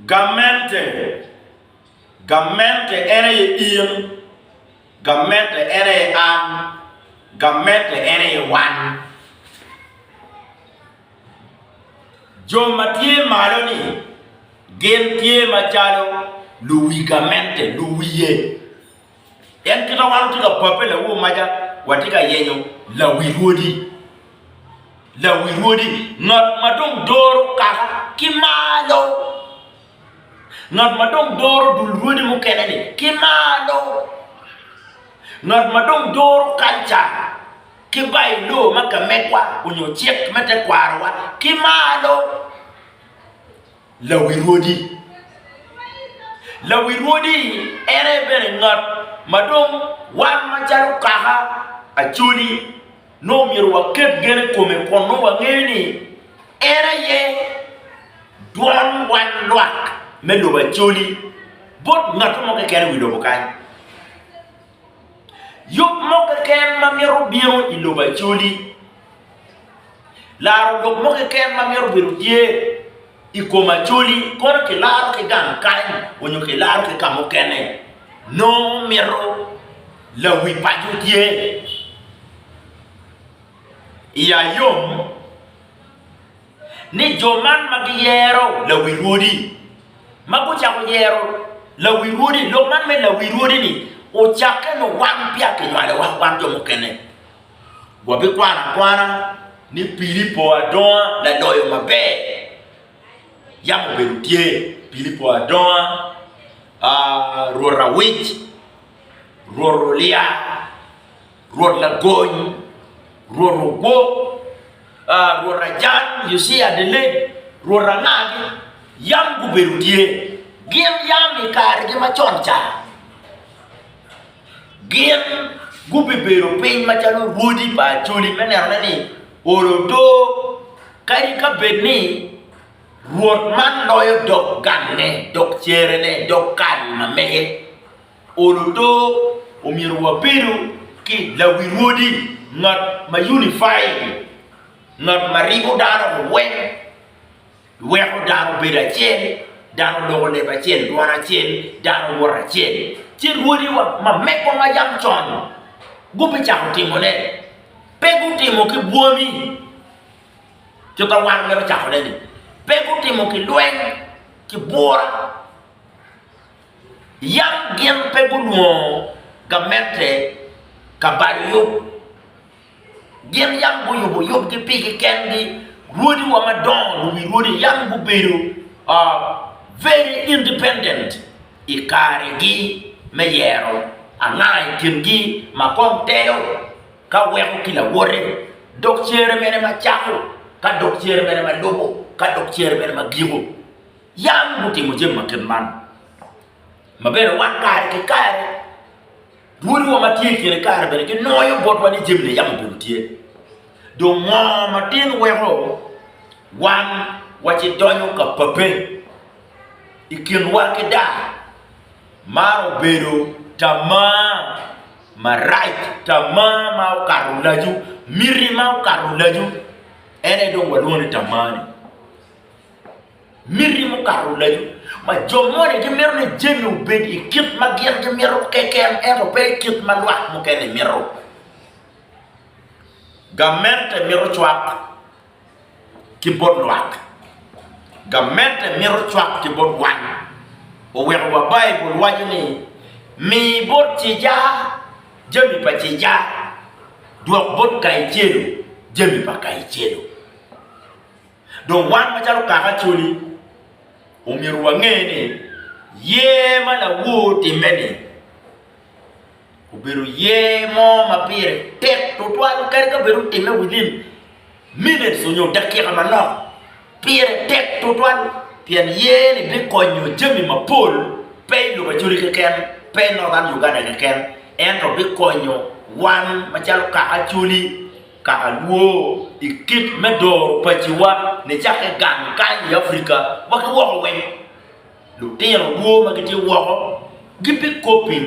Gamente. Gamente en aye in. Gamente en aye an. Gamente en aye wan. Jo ma tye malo-ni gin tye macalo luwi gamente, luwiye. En kit ma wan watye ka pape lawo maca watye ka yenyo lawi rwodi. Lawi rwodi, ngat ma dong doro kaka ki malo. Ngat ma dong doro dul rwodi mukene ni ki malo. Ngat ma dong doro kalca ki bailo ma kamegwa onyo cik me tekwarowa ki malo. Lawi rwodi. Lawi rwodi ene bene ngat ma dong wan macalo kaka Acholi nongo myero waket gen i kome kun nongo wangeyo ni en aye dwon wan lwak me lobo Acholi bot ngat mo keken i wi lobo kany. Yub mo keken ma mito bino i lobo Acholi. Laro lok mo keken ma mito bedo tye i kom Acholi, kono kilaro ki gang kany onyo kilaro ki kamukene. Nongo mito lawi paco tye i ayom. ni jo man ma giyero lawirwodi, ma gucako yero lawirwodi, lok man me lawirwodi-ni ocakke nongo wan peya kinywalowa, wan jo mukene. Wabikwano akwana ni Pilipo adonga laloyo maber. Yam obedo tye, Pilipo adonga, Rwot awic, Rwot olya. Rwot Lagony, Rwot Ogwok, Rwot Ajan, Yucia Adeleg, Rwot Anagi, yam gubedo tye, gin yam i karegi macon ca, gin gubibedo piny macalo rwodi pa Acholi me nenone ni olo odo, kadi ka bed ni Rwot man loyo dog gangne, dog cerene, dog kal ma mege. Olo odo, omyero wabedo ki lawi rwodi, ngat ma unified, ngat ma ribo dano weng, weko dano bedo acel, dano loko leb acel, dwan acel, dano wot acel. Ci rwodiwa ma megwa ma yam con gubicako timone, pe gutimo ki bwomi, kit ma wan wamito cakone-ni, pe gutimo ki lweny, ki bwura, yam gin pe gunwongo gamente ka balo yub. Gin yam guyubo yubgi pigi kengi, rwodiwa madongo, luwi rwodi yam gubedo very independent i karegi me yero anga i kingi ma kong telo ka weko ki lawote, dok cere mene ma cako, ka dok cere mene ma lubo, ka dok cere mene ma giko. Yam gutimo jami ma kit man ma bene wan kare ki kare dwodiwa ma tye i kine kare bene ginwoyo botwa ni jami-ni yam obedo tye. Dong ngo ma tin weko wan wacdonyo ka pape i kinwa ki daa? Man obedo tamaa marac, tamaa ma okato lacu, miti ma okato lacu, en aye dong walwongo ni tamaa-ni. Miti mukato laco ma jo moni gimito ni jami obed i kit ma gin gimito keken ento pe i kit ma lwak mukene mito. Gamente mito cwak ki bot lwak. Gamente mito cwak ki bot wan. Oweko wa Baibul waco ni, Mi bot cica jami pa cica, dwok bot Kaicelo jami pa Kaicelo. Dong wan macalo kaka Acholi, omyero wange ni yer ma lawor timme-ni obedo yer mo ma pire tek tutwal kadi ka bed otimme within minutes onyo dakika manok, pire tek tutwal pien yer-ni bikonyo jami mapol pe i lobo Acholi keken, pe i Northern Uganda keken ento bikonyo wan macalo kaka Acholi Ka alwor i kit me doro paciwa nicakke gang kany i Afrika wa ki woko weng, lutino lwor ma gitye woko gibikobbi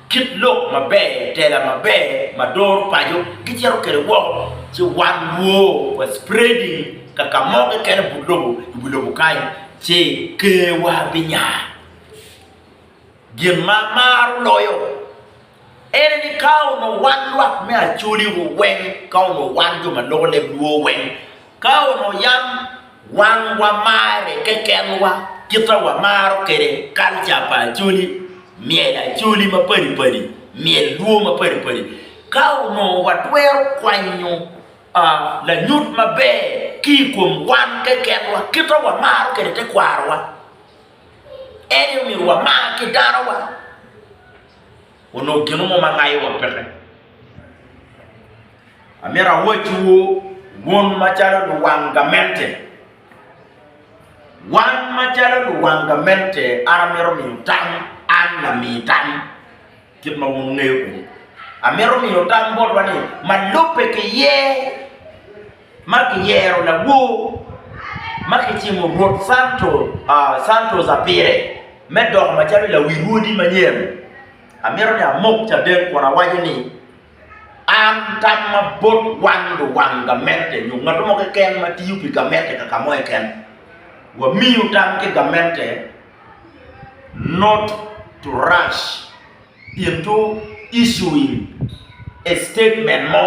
kit lok maber, tela maber ma doro paco gicito kwede woko ci wan lwor wa spreading ka ka mo keken i but lobo, i wi lobo kany ci kerwa binya. Gin ma amaro loyo En aye ni ka onongo wan lwak me Acoli-wu weng, ka onongo wan jo ma loko leb lwor weng, ka onongo yam wan wamarre kekenwa, kit ma wamaro kwede kalca pa Acoli, myel Acoli mapadi padi, myel lwor mapadi padi, ka onongo watwero kwanyo lanyut maber ki i kom wan kekenwa, kit ma wamaro kwede tekwarowa, en aye omyero wamar ki danowa. onongo gino mo ma ngayo wa peke. Amyero awacciwu wun macalo luwang gamente, wan macalo luwang gamente an amyero miyo tam, an lami tam kit ma wun wungeyo kwede. Amyero miyo tam botwa ni ma lubbe ki ye. ma kiyero lawor ma kicimo Rwot Santos apire me doko macalo lawi rwodi manyen, amito ni amok caden kun awaco ni, An tamma bot wang luwang gamente nyo ngat mo keken ma tiyo pi gamente kaka mo keken. Wamiyo tam ki gamente not to rush into issuing a statement mo.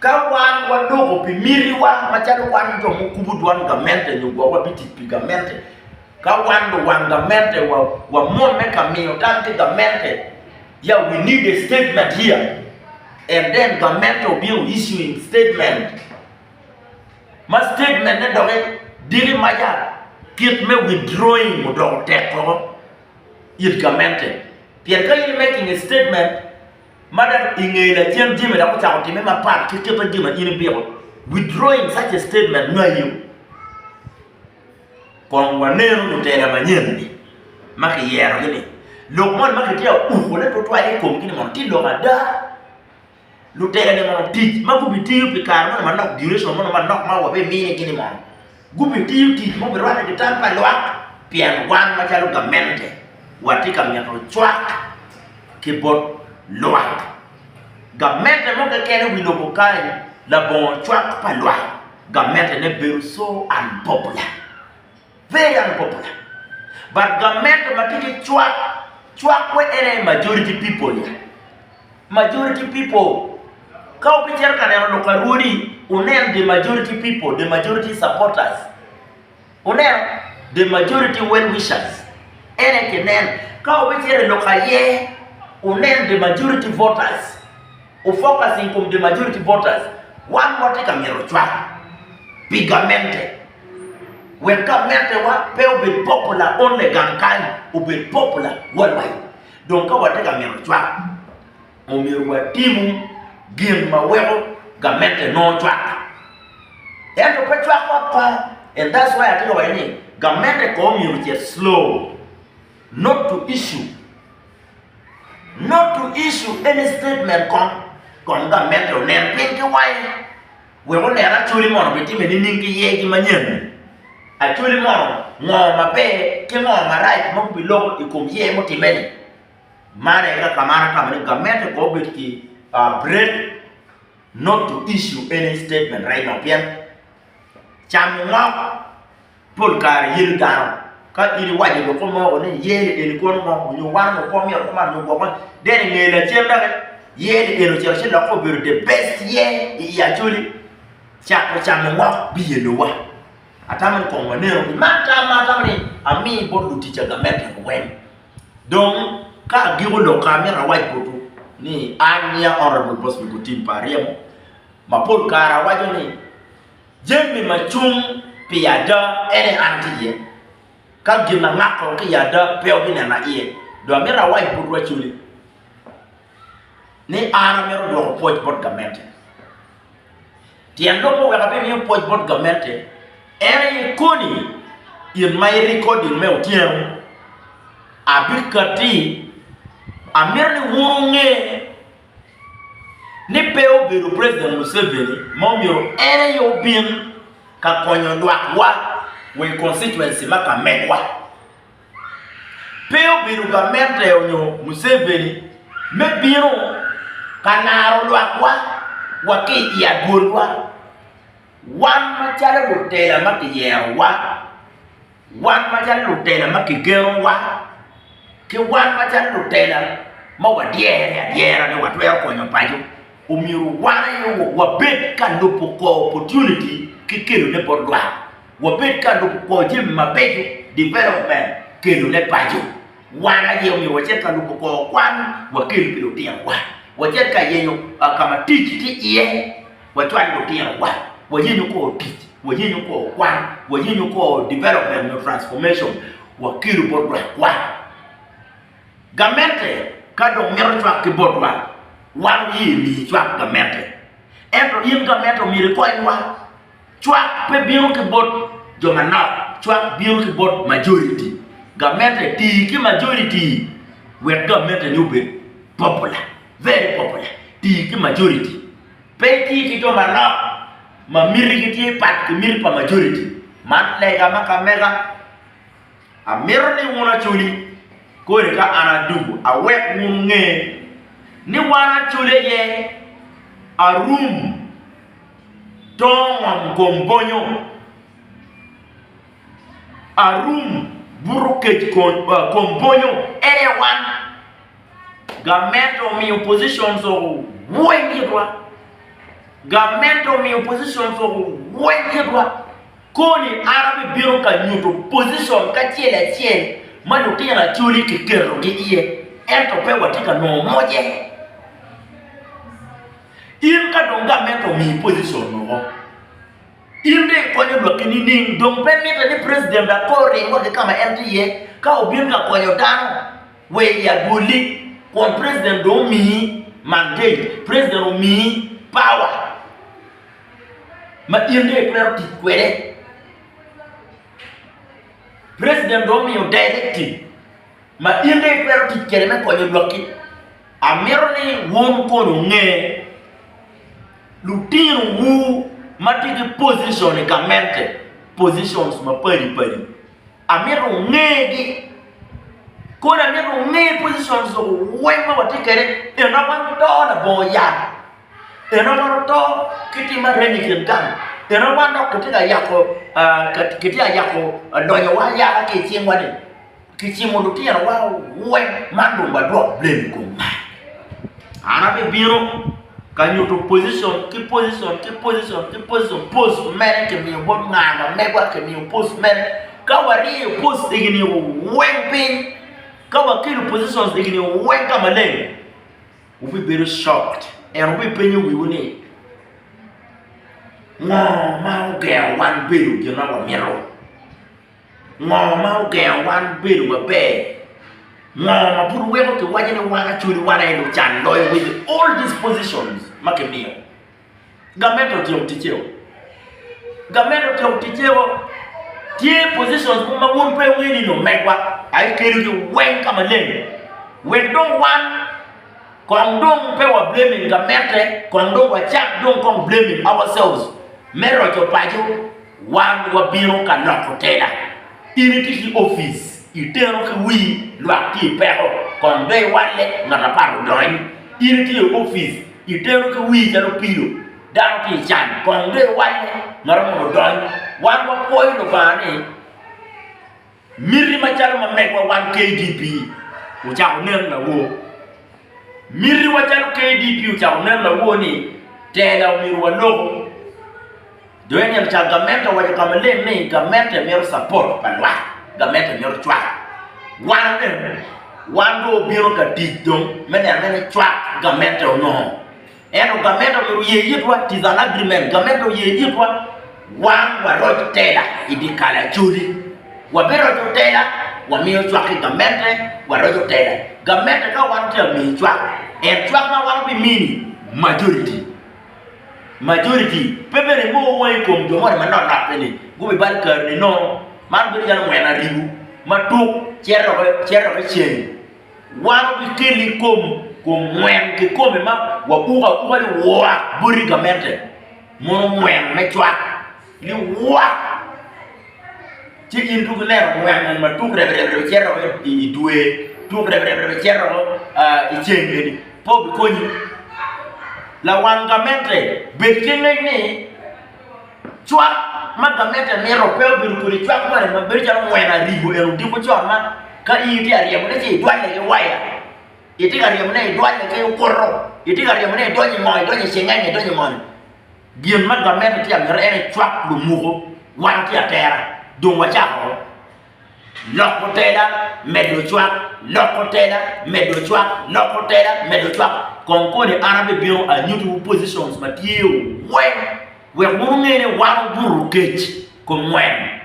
Ka wan waloko pi mitiwa macalo wan jo mukubo dwan gamente nyo gwok wabitic pi gamente, ka wan luwang gamente wamwomme ka miyo tam ki gamente, ya we need a statement here and then gamente obino issuing statement ma statement-ne doki diki ma ya kit me withdrawing odoko tek koko it gamente pien ka in i making a statement ma dok i nge lacen jami dok ocako timme mapat ki kit ma jami ma in ibiko, withdrawing such a statement ngayo. Kong wanenu lutela manyen-ni ma kiyerogi-ni. Lok moni ma kitye ka ukone tutwal i komgi-ni mono tye lok ada? Lutela-ni mono tic ma gubitiyo pi kare moni manok, duration moni manok ma wabimini-gi-ni mono, Gubitiyo tic ma obirwatte ki tam pa lwak pien wan macalo gamente watye ka mito cwak ki bot lwak. Gamente mo keken i wi lobo kany labongo cwak pa lwak gamentene bedo so unpopular, very unpopular. But gamente matye ki cwak, cwak where en aye majority people ya. Majority people. Ka wubicito ka neno lok arwodi, wunen the majority people, the majority supporters. Wuneno? The majority well wishers. En aye kineno. Ka wubicito i lok aye, wunen the majority voters. Wu focus i kom the majority voters. Wan watye ka mito cwak pi gamente wek gamentewa pe obed popular only gang kany, obed popular worldwide. Dong ka watye ka mito cwak, omyero watim gin ma weko gamette nongo cwakka. Ento pe cwak ot kong. And that's why atye ka waco ni gamette kong omyero ocit slow. Not to issue. Not to issue any statement kong. Kong gamette onen piny ki wange. wek onen Acholi mono bitime nining ki yegi manyen-ni? Acholi mono ngo maber ki ngo marac ma gubiloko i kom yer mutimme-ni? Man aye ka man atamo ni gamente kong obed ki break not to issue any statement right now pien camo ngok. Pol kare yelo dano. Ka in iwaco i lokke mo ni iye ni eni kono ngo nyo wan ngo kwo myero kuman nyo gwokke then inge lacen dok iye ni eni ocito ci lokke obedo the best year i i Acholi cako camo ngok biye lowa. Atamo ni kong wanenu ki man tam ma atamo ni ami bot luticca gamente luweny. Dong ka agiko lok ka amito awac botwu ni an niya Honourable Boswick Otim pa aryemo ma pol kare awaco ni Jami ma cung pi ada en aye an ki iye. Ka gin ma ngako ki i ada pe wabinena iye. Dong amito awac bot wacoli ni an amito dwoko pwoc bot gamente. Tyen lok ma weko abimiyo pwoc bot gamente en aye koni in ma i recording me otyeno abikatti amito ni wun wunge. ni pe obedo President Museveni ma omyero en aye obin ka konyo lwak wa wa i constituency ma ka megwa. Pe obedo gamente onyo Museveni me bino ka naro lwak wa wa ki i adwol wa. Wan macalo lutela ma kiyero wa Wan macalo lutela ma kigenowa ki wan macalo lutela ma wadyere adyera ni watwero konyo paco, omyero wan aye wabed ka lubo kor opportunity ki kelone bot lwak. Wabed ka lubo kor jami mabeco, development, kelone paco. Wan aye omyero wacit ka lubo kor kwan wakel pi lutinowa, wacit ka yenyo ka ma tic tye iye. wacwal lutinowa, wayenyo kor tic, wayenyo kor kwan, wayenyo kor development nyo transformation, wakelu bot lwakwa. Gamente ka dong mito cwak ki botwa, wan wuye emi icwak gamente. Ento in gamente omyero ikonywa. Cwak pe bino ki bot jo manok, cwak bino ki bot majoriti. Gamente tii ki majoriti wek gamenteni obed popular, very popular. Tii ki majoriti. Pe iti ki jo manok ma mitigi tye pat ki miti pa majoriti. Man lega ma ka mega. Amito ni wun Acholi kodi ka an Aduku awek wun nge ni wan Acholi aye arum tongom kom bonyo, arum buto kec kom bonyo en aye wan. Gamente omiyo oppositions owony kitwa. Gamente omiyo oppositions owony kitwa. Koni an abibino ka nyuto opposition kacel acel ma lutino Acholi kiketogi iye ento pe watye ka nongo moce. In ka dong gamente omiyi opposition woko, in dong ikonyo lwakki nining? Dong pe mitte ni president akor oring wa ki ka ma en tye iye ka obin ka konyo dano Wek i agolli kwon president dong omiyi mandate, president omiyi power ma in dong itwero tic kwede. President dong omiyo directive ma in dong itwero tic kwede me konyo lwakki. Amito ni wun kong wunge, lutinowu ma tye ki position i gamente, positions mapadi padi. Amito wungegi. Kodi amito wunge positions weng ma watye kede pien dok wan wuto labongo yat. Pien dok wan wuto ki tim ma reny i kin gang. Pien dok wan dok kitye ka yako kitye ka yako lonyowa ayaka ki i cingwa-ni. Kicimo lutinowa weng man dong wadwok blem i kom man. An abibino ka nyuto position ki position ki position ki position post mere kimiyo bot nga ma megwa kimiyo post mere ka waryeyo post egini weng piny ka wakelo positions egini weng ka maleng wubibedo shocked and wubipenyo wiwu ni ngo ma ogero wan bedo gin ma wamito. Ngo ma ogengo wan bedo maber? Ngo ma pud weko ki waco ni wan acwodi wan aye lucan loyo with all these positions ma ki miyo? Gamente otyom ticce o, gamente otyom ticce o, tye positions mogo ma wun pe i ngeyo ni ni omegwa aye ki kelo gi weng ka maleng wek dong wan kong dong pe wa blaming gamente kong dong wacak dong kong blaming ourselves me roco paco Wan wabino ka loko tela. In itye ki opic, iteno ki wi lwak tye i peko, kong be iwalle, ngat apat odony. In itye i opic, iteno ki wi calo pilo, dano tye i can, kong be iwalle, ngat apat odony. Wan wapwoyo Lubanga ni. Miti macalo ma megwa wan KDP ocako nen lawor. Mitiwa calo KDP ocako nen lawor ni tela omyero waloko. Dong ene cal gamente owaco ka maleng ni gamente mito capot pa lwak, gamente mito cwaka. Wan omyero wan dong obino ka tic dong me neno ni cwak gamente onongo. Ento gamet omyero oye itwa, 'tis an agreement, gamet oye itwa wan waroc tela i dikal Acholi, wabiroco tela wamiyo cwak ki gamette waroco tela, gamette ka wan tye amiyi cwak en cwak ma wan obimini majority, majority pe bene mo wangi i kom jo moni manok nok eni gubibal kari ni nongo man bedo calo mweno aribu matuk cito dok cito dok iceng. Wan wabikelle i kom ngwen kikome ma wabuko abuka liwak boti gamente mono ngwen me cwak liwak, ci in tuk ineno ngwen moni ma tuk reb reb reb cito woko i dwe, tuk reb reb reb cito woko i ceng eni pe obikonyi. Lawang gamente bed ki ngec ni. Cwak ma gamente mito pe obedo kodi cwak moni ma bedo calo mweno arigo eno odiko con ma ka in itye ka ryemone ci idwalle ki waya, itye ka ryemone idwalle ki okuto, itye ka ryemone idonyo i ngo, idonyo i cengenge, idonyo i moni. Gin ma gamente tye ka miti ene cwak lumuko, wan watye atera dong wacako. Loko tela, medo cwak, loko tela, medo cwak, loko tela, medo cwak. Kong kodi an abibino anyutiwu positions ma tye-u weng wek wun wunge ni wan wubuto kec kom ngwen,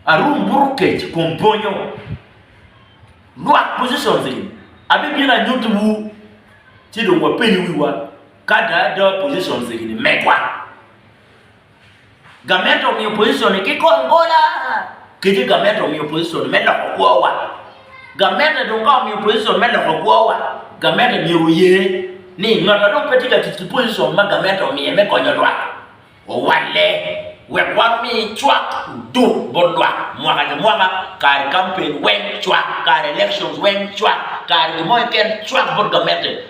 arum buto kec kom bonyo. Lwak positions eni abibino anyutiwu ci dong wapeny wiwa ka ada ada positions eni megwa. Gamente omiyo pozicon-ni ki kom gola kadi gamente omiyo pozicon me loko kwowa. Gamente dong ka omiyo pozicon me loko kwowa, gamente myero oye ni ngat ma dong pe tye ka tic ki pozicon ma gamente omiye me konyo lwak owalle wek wan omi cwak oduk bot lwak mwaka ki mwaka, kare kampen weng cwak, kare elections weng cwak, kare gin mo keken cwak bot gamente.